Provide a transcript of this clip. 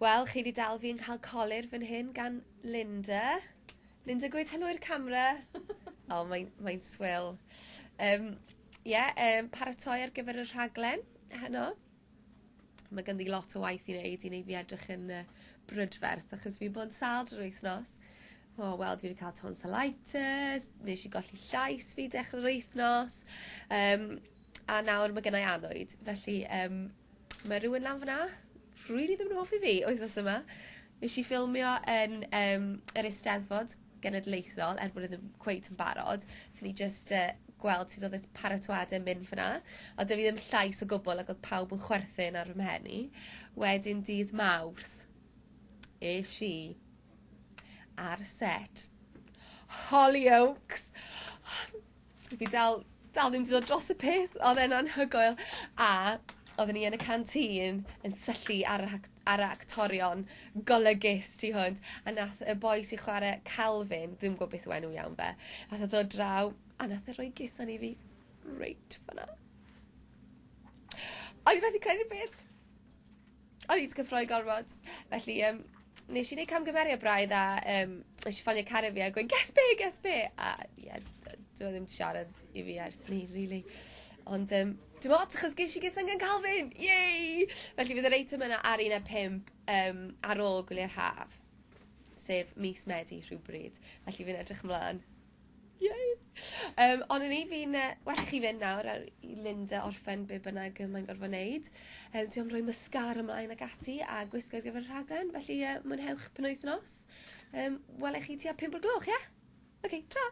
Wel, chi 'di dal fi yn cael colur fan hyn gan Linda. Linda gweud helo i'r camera. O mae'n mae'n swil. Yym ie yym paratoi ar gyfer y rhaglen heno. Mae ganddi lot o waith i wneud i wneud fi edrych yn yy brydferth achos fi'n bod yn sâl drwy'r wythnos. O wel dwi 'di cael tonsilitis, nesh i golli llais fi dechre'r wythnos yym A nawr ma' gennai annwyd, felly yym ma' rywun lan fyn 'na rili ddim yn hoffi fi wythnos yma. Nesh i ffilmio yn yym yr Eisteddfod Genedlaethol er bod e ddim cweit yn barod. Fy' ni jyst yy gweld sut odd y t- paratoade yn mynd fyn 'na. Ond do'dd fi ddim llais o gwbwl ac odd pawb yn chwerthin ar fy mhen i. Wedyn dydd Mawrth esh i ar set. Hollyoaks! Fi dal dal ddim 'di dod dros y peth odd e'n anhygoel a odden ni yn y canteen yn syllu ar y hac- ar y actorion golygus tu hwnt a nath y boi sy chware Calvin dwi'm gw'o' beth yw enw iawn fe nath e ddod draw a nath e roi gisan i fi reit fan 'na. O'n i methu credu beth O'n i 'di cyffroi gormod. Felly yym nesh i neud camgymeriad braidd a yym nesh i ffonio cariad fi a gweud guess be' guess be' a ie d- dyw e ddim 'di siarad i fi ers 'ny rili. Ond yym dim ots achos gesh i gustang gan Calvin! Yay! Felly bydd yr eitem yna ar un ar pump yym ar ôl gwylia'r haf. Sef mis Medi rhywbryd. Felly fi'n edrych ymlan. Yay! Yym ond o'n i fi'n yy well i chi fynd nawr a i Linda orffen be' bynnag yy mae'n gorfod neud. Yym dwi am roi mascara mlaen ac ati a gwisgo ar gyfer y rhaglen felly yy mwynhewch penwythnos. Yym wela i chi tua pump o'r gloch ie? Oce, tara!